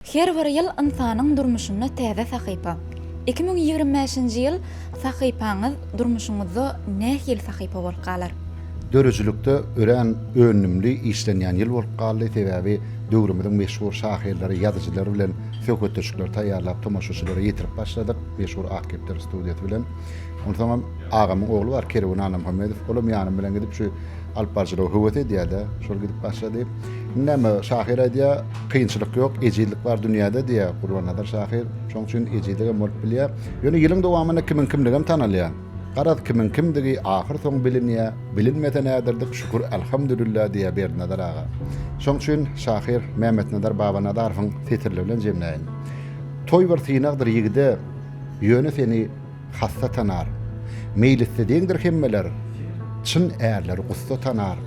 Her bir ýyl ynsanyň durmuşynda täze sahypa. Iki müň ýigrimi bäşinji ýyl sahypaňyz durmuşyňyzda nähili sahypa bolup galar? Döredijilikde örän öndümli işlenýän ýyl bolup galdy, sebäbi döwrümiziň meşhur şahyrlary, ýazyjylary bilen söhbetdeşlikleri taýýarlap tomaşaçylara ýetirip başladyk, meşhur Akgepler studiýasy bilen. Onsoňam agamyň ogly bar, Kerwen Annamuhammedow. Olam ýanym bilen gidip şu alyp baryjylygy höwes edýär-de, şol gidip başlady. Indi näme, şahyr aýdýar, kynçylyk ýok, ejizlik bar dünýäde diýýär Gurbannazar şahyr. Şonuň üçin ejizligem bolup bilýär. Ýöne ýylyň dowamynda kimiň kimdigem tanalýar. Garaz, kimiň kimdigi ahyrsoňy bilinýär. Bilinmese näderdik, şükür, alhamdulillah diýýär Berdinazar aga. Şonuň üçin şahyr Mämmetnazar Babanazarowyň setirleri bilen jemläýin. Toý bir synagdyr ýigide, ýöne seni. Hassa tanar, meýlisde deňdir hemmeler, Çyn ärleri gussa tanar.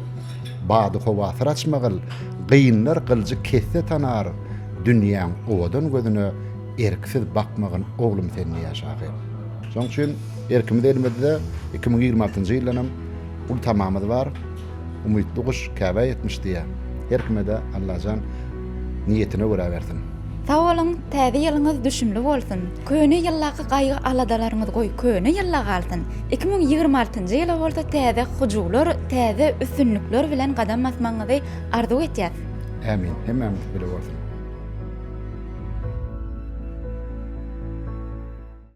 Bady howasyr açmagyl, gynlar gyljy kesse tanar, Dünýäň owadan gözüne erksiz bakmagyn oglum sen diýýär şahyr. Şonuň üçin erkimiz elimizde, iki müň ýigrimi altynjy ýyldanam ultamamyz bar. Umytly guş Käbä ýetmiş diýýär. Her kime-de Allajan niýetine görä bersin. Sag boluň, täze ýylyňyz düşümli bolsun! Köne ýyldaky gaýgy-aladalaryňyz goý köne ýylda galsyn! Iki müň ýigrimi altynjy ýyla bolsa täze hyjuwlar, täze üstünlikler bilen gadam basmagyňyzy arzuw etýäs! Ämin! Hemmämiz bile bolsun!